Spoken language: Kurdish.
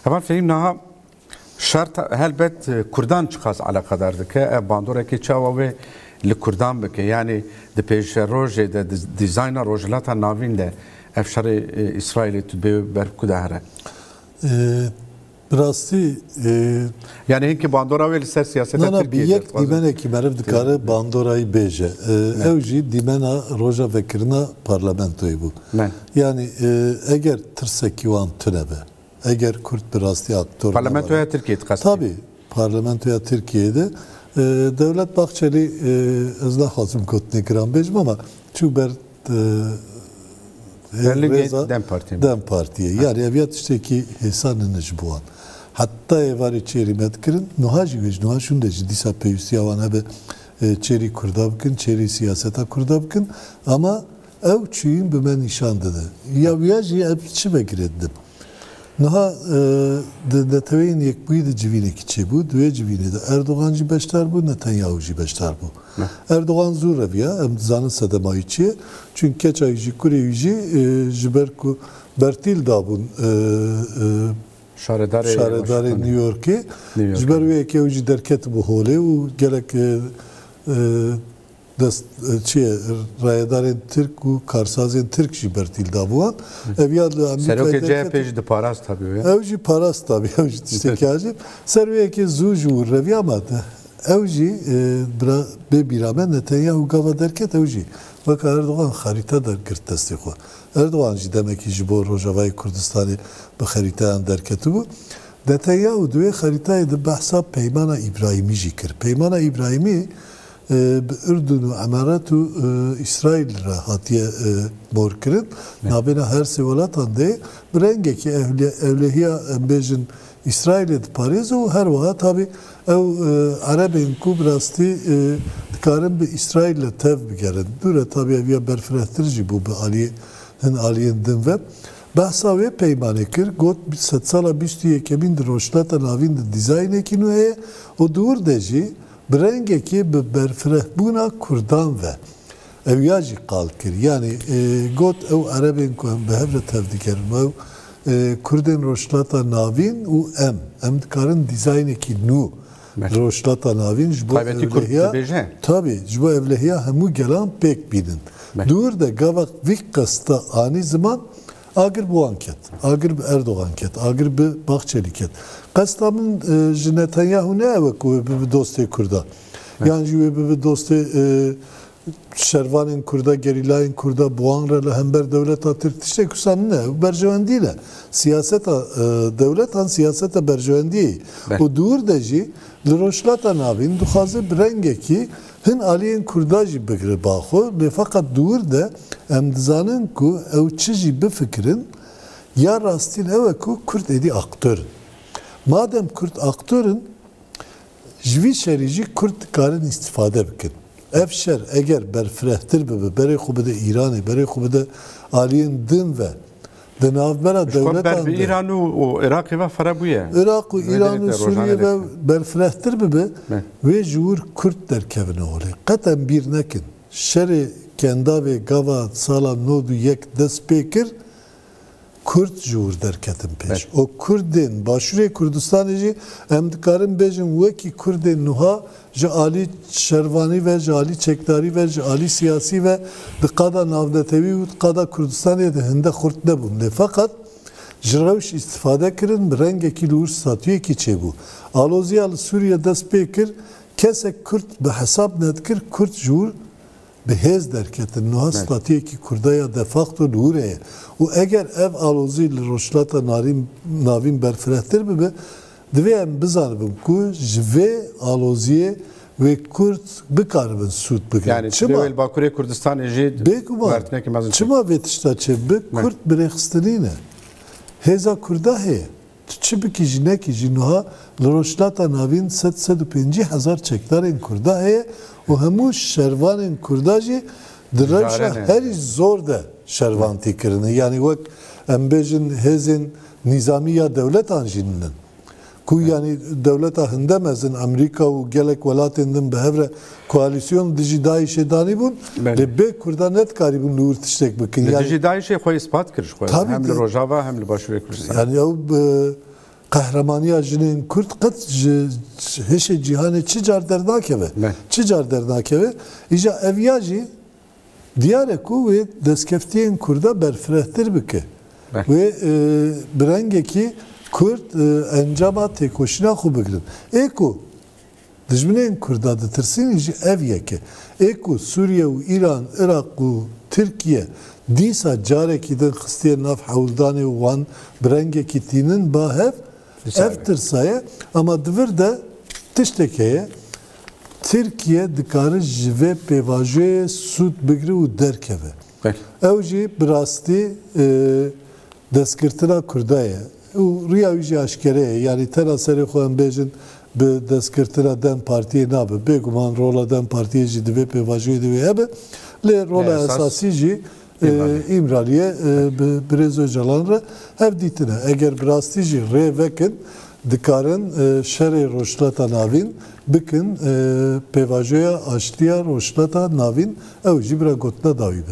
Heval fehîm niha şer helbet kurdan çiqas eleqedar dike, ev bandorekê çawa wê li kurdan bike, yanî di pêşerojê de di dîzayna Rojhilata Navîn de ev şerê Îsraîlê tu bê ber ku de here? Bi rastî Yanî hinkî bandora wê li ser siyaseta Tirkiyeyê de. Na na bi yek dîmenekî meriv dikare bandorayî bêje. Ew jî dîmena roja vekirina parlamentoyê bû. Yanî eger tirsekî wan tune be, eger kurd bi rastî aktor nebe. Parlamentoya Tirkiyeyê dixestî? Tabî parlamentoya Tirkiyeyê de. Dewlet Bahçelî ez naxwazim gotinê giran bêjim ama çû ber Belingê dem partiyê me. Dem partiyê. Yanî ev ya tiştekî hêsan in ji bo wan. Heta êvarê çêrî me dikirin. Nuha jî wê ji nuha şûnde jî dîsa pêwîstiya wan hebe çêrî kurda bikin, çêrî siyaseta kurda bikin. Ama ew çûyîn bi me nîşan dide. Ya wiya jî ev çi vegirê didim. Niha di Neteweyên Yekbûyî de civînekî çêbû. Di wê civînê de Erdogan jî beşdar bû, Netanyahu jî beşdar bû. Erdogan zû reviya, em dizanin sedema wî çi ye. Çunk keça wî jî, kurê wî jî ji ber ku bertîl dabûn şaredarê New Yorkê, ji ber wê yekê ew jî derketibû holê û gelek Dest çiyê rayedarên Tirk û karsazên Tirk jî bertîl da bi wan. Ev ya li Amerîkayê derket. Serokê CHP'ê jî diparast tabi wê. Ew jî parast tabi ew jî tiştekî acîl. Ser wê yekê zû ji wir re viya ma te. Ew jî bira bê bîra me Netanyahu gava derket ew jî weka Erdogan xerîte der girt destê xwe. Erdogan jî demekî ji bo Rojavayê Kurdistanê bi xerîteyan derketibû. Netanyahu di wê xerîtayê de behsa peymana Îbrahîmî jî kir. Peymana Îbrahîmî Bi Urdun û Emarat û Îsraîl re hatiye morkirin. Navbêna her sê welatan de bi rengekî ewlehiya em bêjin Îsraîlê diparêze û her wiha tabî ew erebên ku bi rastî dikarin bi Îsraîl re tev bigerin. Dûr e tabî ev ya berfirehtir jî bû bi aliyê hin aliyên din ve. Behsa wê peymanê kir, got, Sedsala bîst û yekemîn di Rojhilata Navîn de dîzaynekî nû heye û di wir de jî Bi rengekê bi berfirehbûna kurdan ve ew ya jî qal kir. Yanî got ew erebên ku em bi hev re tev digerin û ew kurdên Rojhilata Navîn û em, em dikarin dîzaynekî nû li Rojhilata Navîn ji bo ewlehiya tabî ji bo ewlehiya hemû gelan pêk bînin. Dûr de gava vî qesta anî ziman Agir bi wan ket, agir bi Erdogan ket, agir bi Bahçeli ket. Qesta min ji Netanyahu ne ew e ku wê bibe dostê Kurdan. Yan jî wê bibe dostê şervanên Kurda, gerîlayên Kurda, bi wan re li hember dewleta Tirk tiştê ku wisa ne. Ew berjewendî ne. Siyaseta dewletan siyaseta berjewendiyê ye. Û dûr de jî li Rojhilata Navîn dixwaze bi rengekî Hin aliyên Kurdan jî bigre ba xwe lê feqet di wir de em dizanin ku ew çi jî bifikirin ya rastîn ew e ku Kurd êdî aktör in. Madem Kurd aktör in ji vî şerî jî Kurd dikarin îstîfade bikin. Ev şer eger berfirehtir bibe berê xwe bide Îranê, berê xwe bide aliyên din ve Di navbera Ji xwe ber dewletan bi de Îran û û Iraqê ve fire bûye. Iraq û Wê Îran û derîte rojane Sûriyê ve lêt. berfirehtir bibe, Me. wê ji wir Kurd derkevine holê. Qet em bîr nekin, şerê Kendavê gava sala nod û yek dest pê kir, Kurd ji wir derketin pêş. Û Kurdên Başûrê Kurdistanê jî em dikarin bêjin wekî Kurdên nuha ji alî şervanî ve, ji alî çekdarî ve, ji alî siyasî ve di qada navnetewî û di qada Kurdistanê de hinde xurt nebûn lê feqet ji rewş îstîfade kirin bi rengekî li wir statuyekî çêbû. Aloziya li Sûriye dest pê kir, kesek Kurd bi hesab nedikir Kurd ji wir bi hêz derketin. Niha statuyekî Kurda ya de facto li wir heye û eger ev alozî li Rojhilata Navîn berfirehtir bibe Divê em bizanibin ku ji vê aloziyê wê kurd bikaribin sûd bigrin. Çima? Bêguman, çima vê tişta çê bi kurd birêxistinî ne? Hêza kurda hê. Tu çi bikî jî nekî jî nuha li Rojhilata Navîn sed, sed û pêncî hezar çekdarên kurda heye û hemû şervanên kurda jî Di rewşa herî zor de şervantî kirine. Yanî wek em bêjin hêzên nîzamî ya dewletan jî nin. Ku yanî dewleta hinde mezin Amerîka û gelek welatên din bi hev re koalîsyon dijî DAIŞ'ê danîbûn. Lê bê Kurdan ne dikarîbûn li wir tiştek bikin. Li dijî DAIŞ'ê xwe îspat kir ji xwe. Hem li Rojava hem li Başûrê Kurdistanê. Yanî ew bi. Qehremaniya jinên Kurd qet ji hişê cîhanê çi car dernakeve. Çi car dernakeve. Îja ev ya jî diyar e ku wê destkeftiyên Kurda berfirehtir bike. Wê bi rengekî Kurd encama têkoşîna xwe bigirin. Ê ku Dijminên Kurda ditirsînî ji ev yeke. Ê ku Sûriye û Îran, Iraq û Tirkiye dîsa carekî din xistiye nav hewldanê û wan bi rengekî tînin ba hev, ev tirsa ye. Ama di vir de tiştek heye. Tirkiye dikare ji vê pêvajoyê sûd bigire û derkeve. Ew jî bi rastî destgirtina Kurda ye û riya wî jî aşkere ye. Yanî tena serê xwe em bêjin bi destgirtina dem partiyê nabe. Bêguman rola dem partiyê jî di vê pêvajoyê de wê hebe. Lê rola esasî jî Îmralî ye bi birêz Ocalan re hev dîtin e. Eger bi rastî jî rê vekin dikarin şerê Rojhilata Navîn bikin pêvajoya aştiya Rojhilata Navîn. Ew jî bira gotina dawî be.